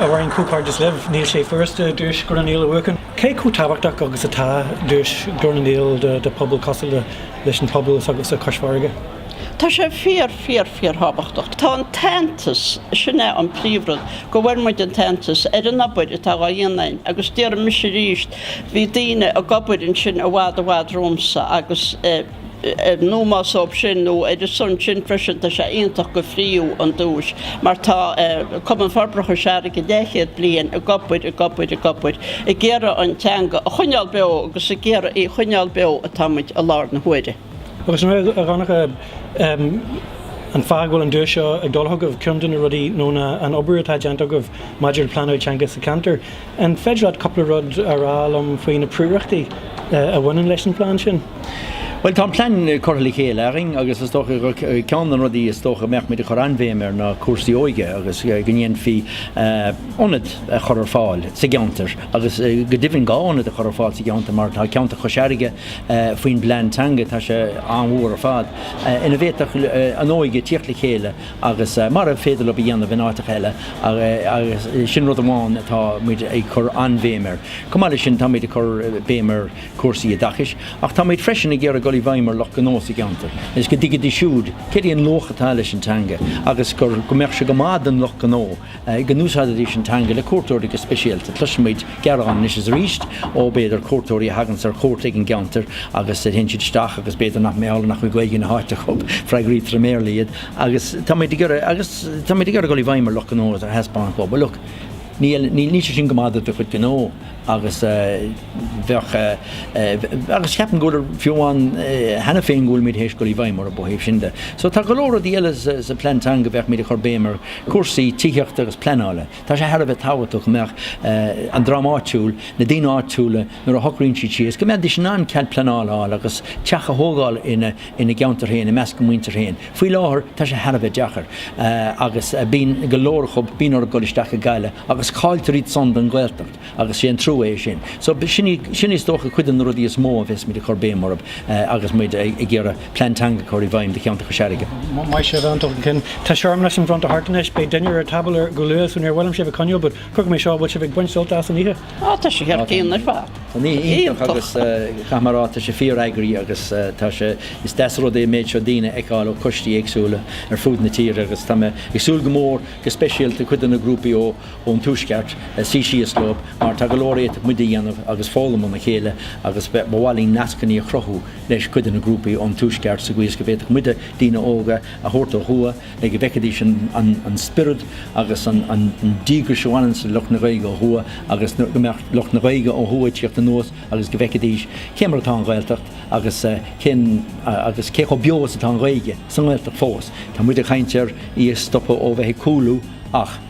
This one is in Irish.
A Mháirín, comhghairdeas libh. Níl sé furasta Duais Ghlór na nGael a bhuachan. Cé chomh tábhachtach agus atá Duais Ghlór na nGael do phobal cosúil leis an phobal s'agaibhse Cois Fharraige? Tá sé fíor, fíor, fíorthábhachtach. Tá an t-aitheantas, sin é an príomhrud, go bhfuair muid an t-aitheantas ar an obair atá á dhéanamh againn agus déarfaidh mise arís bhí daoine ag obair ansin i bhfad i bhfad romhamsa agus, in ómós dóibh sin nó ar a son sin freisin tá sé iontach go frítheadh an duais mar tá Cumann Forbartha Chois Fharraige leathchéad bliain ag obair, ag obair, ag obair ag iarraidh an teanga a choinneál beo agus ag iarraidh í choinneál beo atá muid i láthair na huaire. Agus mé ag amharc ar an fáth a bhfuil an duais seo ag dul chugaibh, ceann de na rudaí nó na an obair atá déanta agaibh maidir le pleanáil teanga sa cheantar, An féidir leat cúpla rud a rá liom faoi na prióireachtaí a bhaineann leis an bplean sin? Bhuel, tá an plean curtha le chéile againn agus is dócha gur ceann de na rudaí is dócha a mbeadh muid ag cur an-bhéim air ná cúrsaí óige agus go ndéanfaí ionad a chur ar fáil sa gceantar agus go deimhin dhá ionad a chur ar fáil sa gceantar mar tá ceantar Chois Fharraige faoin bplean teanga, tá sé an-mhór ar fad, ina bhféadfadh an óige tíocht le chéile. agus mar ab féidir leob a dhéanamh in áiteacha eile, agus sin rud amháin atá muid ag cur an-bhéim air. Chomh maith leis sin, tá muid ag cur béim ar chúrsaí oideachais, ach tá muid freisin ag iarraidh dul i bhfeidhm ar lucht gnó sa gceantar, agus go dtuigfidís siúd céard é an luach atá leis an teanga, agus gur, go mbeadh sé go maith don lucht gnó. go n-úsáidfidís an teanga le cuairteoirí go speisialta. Cloisimid gearán anois is arís ó, b'fhéidir, cuairteoirí a thaganns ar chuairt ag an gceantar agus a théann siad isteach agus b'fhéidir nach, mar gheall nach bhfuil Gaeilge na háite acu, freagraítear i mBéarla iad agus tá, tá muid ag iarraidh dul i bhfeidhm ar lucht gnó agus a thaispeáint dhóibh, look níl sé sin go maith do do chuid gnó. agus bheadh, agus ceapaim go bhfuil, fiú amháin cheana féin, go bhfuil muid théis dul i bhfeidhm orthu ó thaobh sin de. So tá go leor rudaí eile sa Phlean Teanga, bheadh muid ag cur béim ar chúrsaí tithíochta agus pleanála. Tá sé thar a bheith tábhachtach go mbeadh an dream áitiúil, na daoine áitiúla, nuair a shocraíonn siad síos, go mbeidís in ann cead pleanála a fháil agus teach a thógáil ina gceantar féin, i measc a muintir féin. Faoi láthair tá sé thar a bheith deacair agus bíonn go leor acub, bíonn orthu dul isteach go Gaillimh agus cailltear iadsan don Ghaeltacht agus sé an trua é sin. So sin is dócha cuid de na rudaí is mó a bheas muid ag cur béim orthub agus muid ag iarraidh Plean Teanga a chur i bhfeidhm do cheantar Chois Fharraige. Maith sibh Aontacht an Cinn. Tá searmanas an bhronnta thart anois, beidh dinnéar ar tábla go luath so níor mhaith liom sibh a choinneáil but cuirfidh mé seo, bhfuil sibh ag baint sult as an oíche? Á, tá sé thar cionn ar fad. Tá sé iontach agus caithfidh mé a rá, tá sé fíoreagraithe agus tá sé, is deas rud é an méid seo daoine a fheiceáil ó choistí éagsúla ar fud na tíre agus tá mé ag súil go mór go speisialta cuid de na grúpaí ón Tuaisceart suí síos leo mar tá go leor a fhéadfadh muide a dhéanamh agus foghlaim óna chéile agus ba mhaith linn nascannaí a chruthú leis cuid de na grúpaí ón Tuaisceart sa gcaoi is go bhféadfadh muide daoine óga a thabhairt ó thuaidh le go bhfeicfidís an spiorad agus an díograis a bhaineanns le lucht na Gaeilge ó thuaidh agus go mbeadh lucht na Gaeilge ó thuaidh ag tíocht anuas agus go bhfeicfidís cé mar atá an Ghaeltacht agus agus cé chomh beo is atá an Ghaeilge sa nGaeltacht fós. Tá muid ag caint ar í a stopadh ó bheith ag cúlú ach.